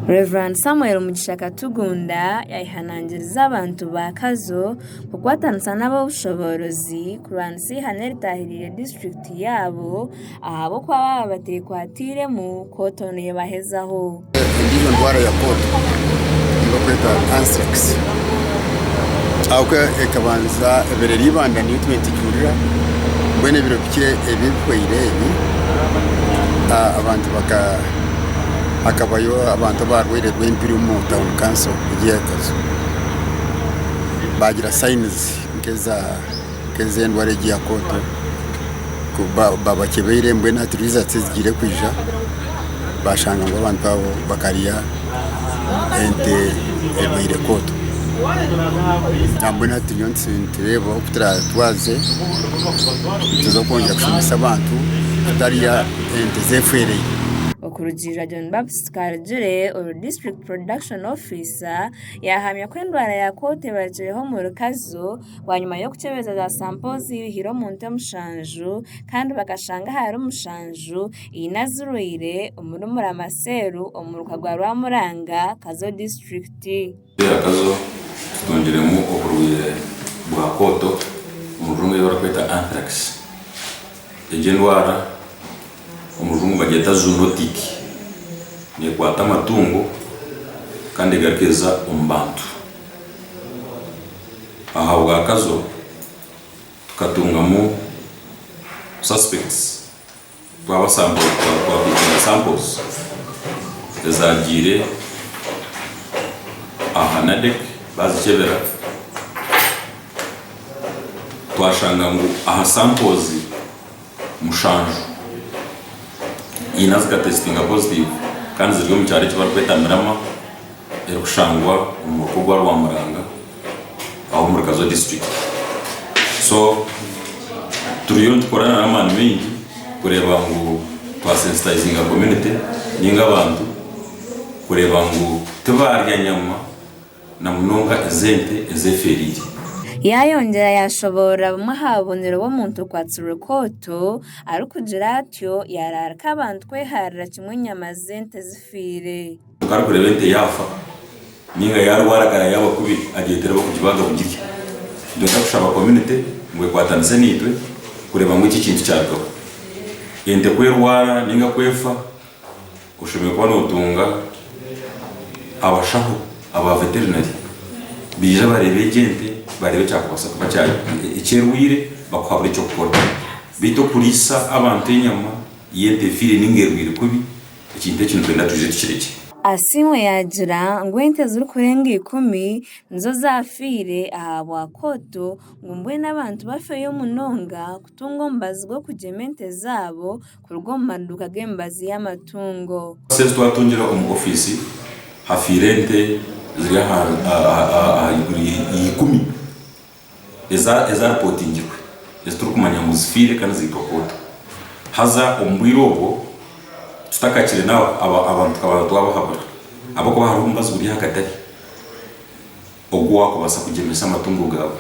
Rev. Samuel Mugisha Katugunda yayehanangiriza abantu ba Kazo kukwatanisa n'ab'obushoboorozi kurwanisa eihane eritahiriire disiturikiti yaabo ahabw'okuba baaba bateekwatairemu kooto neebahezaho. Endiijo ndwara ya kooto ei barikweta Anthrax ahabw'okuba ekabanza ebaire eri eibanda niyo itwe nitugihuurira mbwenu ebiro bikye ebi ebihweire ebi abantu baka hakabayo abantu abarwaire rw'empiri omu town council egi ya itozo bagira signs nk'ezendwara egi ya koto babakyebeire mbwenu hati riza tizigiire kwija bashanga ngu abantu abo bakarya ente erwaire koto nambwenu hati turiyo nitureeba oku twaze nituza kwongera kushomesa abantu kutarya. ente z'efwereire. Okurugiirira John Baptist Karugire oru District Production Officer, yahamya ku endwara ya Kooti ebarukireho omu rukazu bwanyima y'okukyebeza za sampo ziihire omu nte mushanju kandi bakashanga ahari mushanju eine azirwaire omuri Murama Cell omuruka gwa Rwamuranga, Kazo District. Kiteera kazo kitungiremu oburwaire bwa kooto omu rujungu ei barikweta anthrax. Egi endwara omu rujungu bagyeta zoonotic. Neekwata amatungo kandi egaruka eza omu bantu. Ahabwa kazo tukatungamu suspects. Twaba samples twaba twakwitire samples ezagiire aha NADEC bazikyebera twashanga ngu aha samples mushanju haine azikatesitinga positive kandi ziri omu kyaro eki barikweta Mirama erikushangwa omu ruka ogwa Rwamuranga. aho omuri Kazo District. So turiyo nitukorana n'amaani maingi kureeba ngu twa sensitizinga community ninga abantu kureeba ngu tibaarya nyama na munonga ez'ente ezeefeereire. Yaayongyera yaashoboorora bumwe aha bubonero bw'omuntu orikwatsirwe kooto arikugira atyo yaaraarika abantu kwehaarira kimwe enyama z'ente ezifiire. Kwonka arikureeba ente yaafa nainga yaarwara akaba yaaba kubi, agyetereba okugibaaga kugirya. Nitwenda kushaba community ngu ekwatanise naitwe kureeba ngu eki ekintu kyarugaho. Ente ku erwara nainga ku efa, oshemereire kuba nootunga abashaho aba veterinary baije bareebe egyo ente bareebe ekyakubaasa kuba eki erwaire bakuhabure eky'okukora. Beitu okuriisa abantu enyama y'ente efiire nainga erwaire kubi, Ekintu eki nitwenda twije tukirekye. Asiimwe yaagira ngu ente ezirikurenga ikumi nizo zaafiire ahabwa Kooto ngu mbwenu abantu bafeeyo munonga kutunga omubazi gw'okugyema ente zaabo kuruga omu maduuka g'emibazi y'amatungo. Ente ezi twatungire omu ofiisi hafiire ente ziri ahaiguru y'eikumi. ezaaripootingirwe ezi turikumanya ngu zifiire kandi ziitwa koota. Haza omu bwire obwo tutakakire n'aho abantu tukaba twabahabura ahabw'okuba hariho omubazi guri ahagatari ogu waakubaasa kugyemesa amatungo gaawe.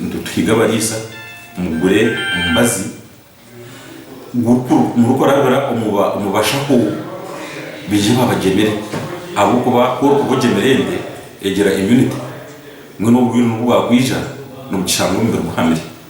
Nituhiga abariisa mugure omubazi. murikurabira omu bashaho baije babagyemere ahabw'okuba ku orikuba ogyemire ente egira immunity mbwenu obwire obu bwakwija nibugishanga omubiri guhamire.